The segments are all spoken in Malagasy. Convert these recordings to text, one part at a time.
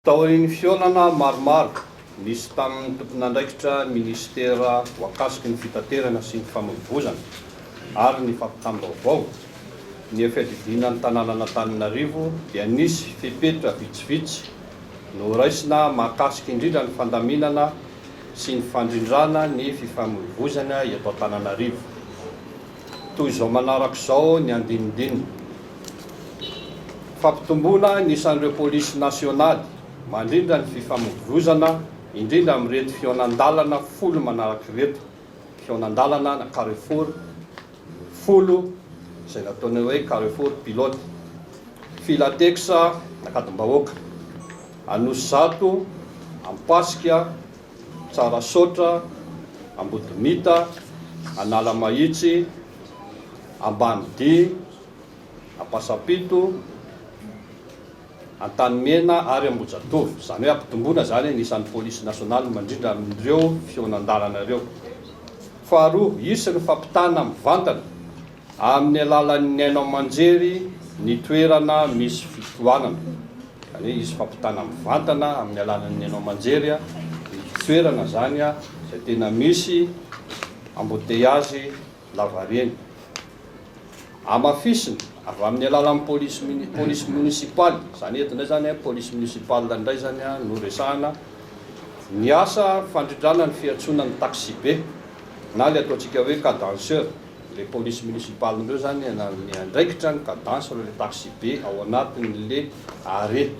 Taorian'ny fihaonana maromaro nisy tamin'ny tompon'andraikitra minisitera voakasiky ny fitaterana sy ny famoivoizana ary ny fampitam-baovao, ny fiadidiana ny tanànan'Antananarivo dia nisy fepetra vitsivitsy noraisina mahakasika indrindra ny fandaminana sy ny fandrindrana ny fifamoivoizana eto Antananarivo. Toy izao manaraka izao ny andinindininy, Fampitomboana ny isan'ireo polisy nasionaly mandrindra ny fifamoivoizana, indrindra amin'ireto fihaonan-dalana folo manaraka ireto, fihaonan-dalana na carrefour, folo izay nataonay hoe Carrefour pilote, Filatex Nakadimbahoaka, Anosizato, Ampasika, Tsarasaotra, Ambodimita, Analamahitsy, Ambanidia, Ampasampito, Antanimena ary Ambohijatovo, izany hoe ampitomboina izany ny isan'ny polisy nasionaly mandrindra amin'ireo fihonan-dalana ireo. Faharoa, hisy ny fampitana mivantana amin'ny alalan'ny haino aman-jery ny toerana misy fitohanana, izany hoe hisy fampitana mivantana amin'ny alalan'ny haino aman-jery ny toerana izany izay tena misy embouteillages. lavareny. Hamafisina avy amin'ny alalan'ny polisy mini, police municipale, izany eto indray izany a, police municipale indray izany a, no resahana ny asa fandrindrana ny fiantsoana ny taxibe, na ilay ataontsika hoe cadenceur, ilay police municipale ireo izany na miandraikitra ny cadence ireo ilay taxibe ao anatin'ilay arrêt.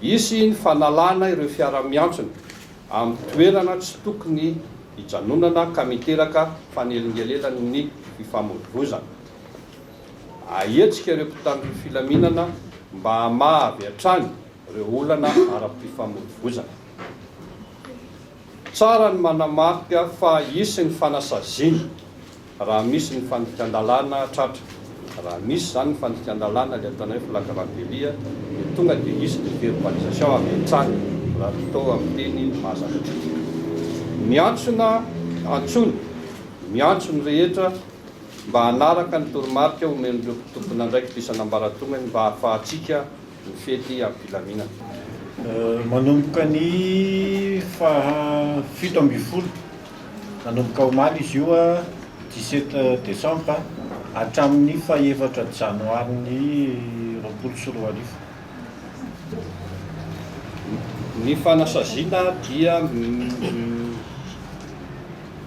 Hisy ny fanalana ireo fiara miantsona amin'ny toerana tsy tokony Hijanonana ka miteraka fanelingelenan' ny fifamoivoizana. Ahetsika ireo mpitandro filaminana mba hamaha avy hatrany ireo olana ara-pifamoivoizana. Tsara ny manamarika fa hisy ny fanasaziana. Raha misy ny fandikan-dalàna tratra, raha misy izany ny fandikan-dalàna, ilay ataonay hoe flagrant délit, dia tonga dia hisy ny verbalisation avy hatrany, raha ny atao amin'ny teny mahazatra. Miantsona, antsoina, miantso ny rehetra mba hanaraka ny toromarika omen'ireo tompon'andraikitra isan'ambaratongany mba hahafahantsika, ny fety am-pilaminana. Manomboka ny faha fito ambin'ny folo, manomboka omaly izy io, dix sept decembre, hatramin'ny faha efatra janoary ny roapolo sy roa arivo. Ny fanasaziana dia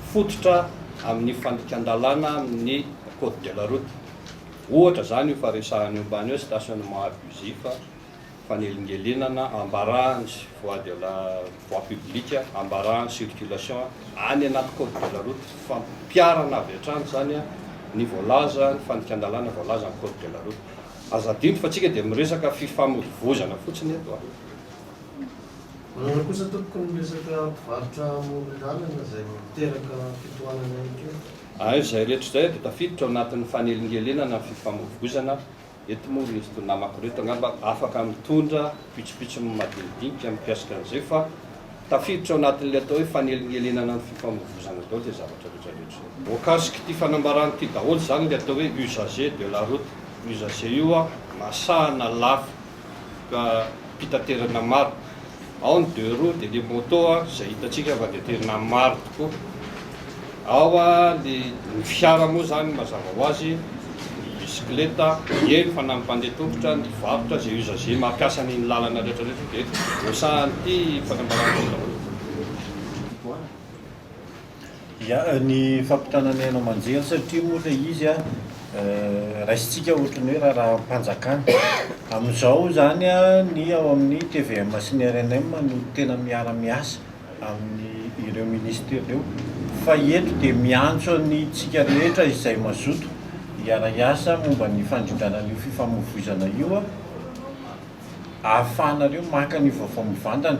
mifototra amin'ny fandikan-dalàna amin'ny Code de la route. Ohatra izany io fa resahana eo ambany hoe stationnement abusif, fanelingelenana, ambarahany sy voie de la voie publique, ambarahany circulation any anaty code de la route, fampiharana avy hatrany izany ny voalaza, ny fandikan-dalàna voalaza amin'ny code de la route. Aza adino fa tsika dia miresaka fifamoivoizana fotsiny eto a! Manana kosa tompoko ny resaka mpivarotra amoron-dalana izay miteraka fitohanana ihany koa. Ary izay rehetra izay dia tafiditra ao anatin'ny fanelingelenana ny fifamoivoizana. Eto moa ry ireto namako ireto angamba afaka mitondra pitsopitsony madinidinika mikasika an'izay fa tafiditra ao anatin'ilay atao hoe fanelingelenana ny fifamoivoizana daholo izay zavatra rehetra rehetra izay. Voakasik'ity fanambarana ity daholo izany ilay atao hoe usager de la route. Usager io masahana lafo. mpitaterana maro ao ny deux roues dia le moto izay hitantsika fa dia tena maro tokoa ao ny fiara moa izany mazava ho azy ny bisikileta eny fa na ny mpandeha tongotra ny varotra izay usager mampiasa ny lalana rehetra rehetra dia hosahan'ity fanambarana ity daholo Ya, ny fampitana ny haino aman-jery satria moa ilay izy an, raisintsika ohatran'ny hoe raharaham-panjakana. Amin'izao izany an, ny ao amin'ny tvm sy ny rnm no tena miara-miasa amin'ireo minisitera ireo fa eto dia miantso antsika rehetra izay mazoto hiara-hiasa momba ny fandrindrana an'io fifamoivoizana io an, ahafahanareo maka an'io vaovao mivantana.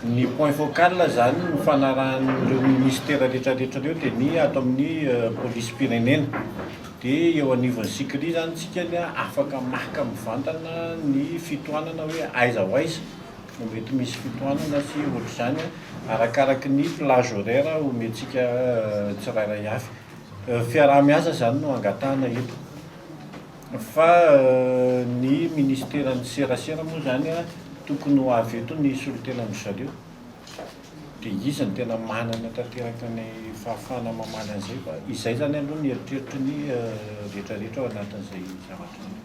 Ny point focal izany nifanarahan'ireo ministera rehetrarehetra ireo dia ny ato amin'ny polisim-pirenena. Dia eo anivon'ny Sikri izany isika ny afaka maka mivantana ny fitohanana hoe aiza ho aiza no mety misy fitohanana sy ohatr'izany arakaraky ny plage horaire omentsika tsirairay avy. Fiaraha-miasa izany no angatahana eto. Fa ny ministeran'ny serasera moa izany tokony ho avy eto ny solontenan'dry zareo. Dia izy no tena manana tanteraka ny fahafahana mamaly an'izay fa izay izany aloha ny eritreritry ny rehetra rehetra ao anatin'izay zavatra izay.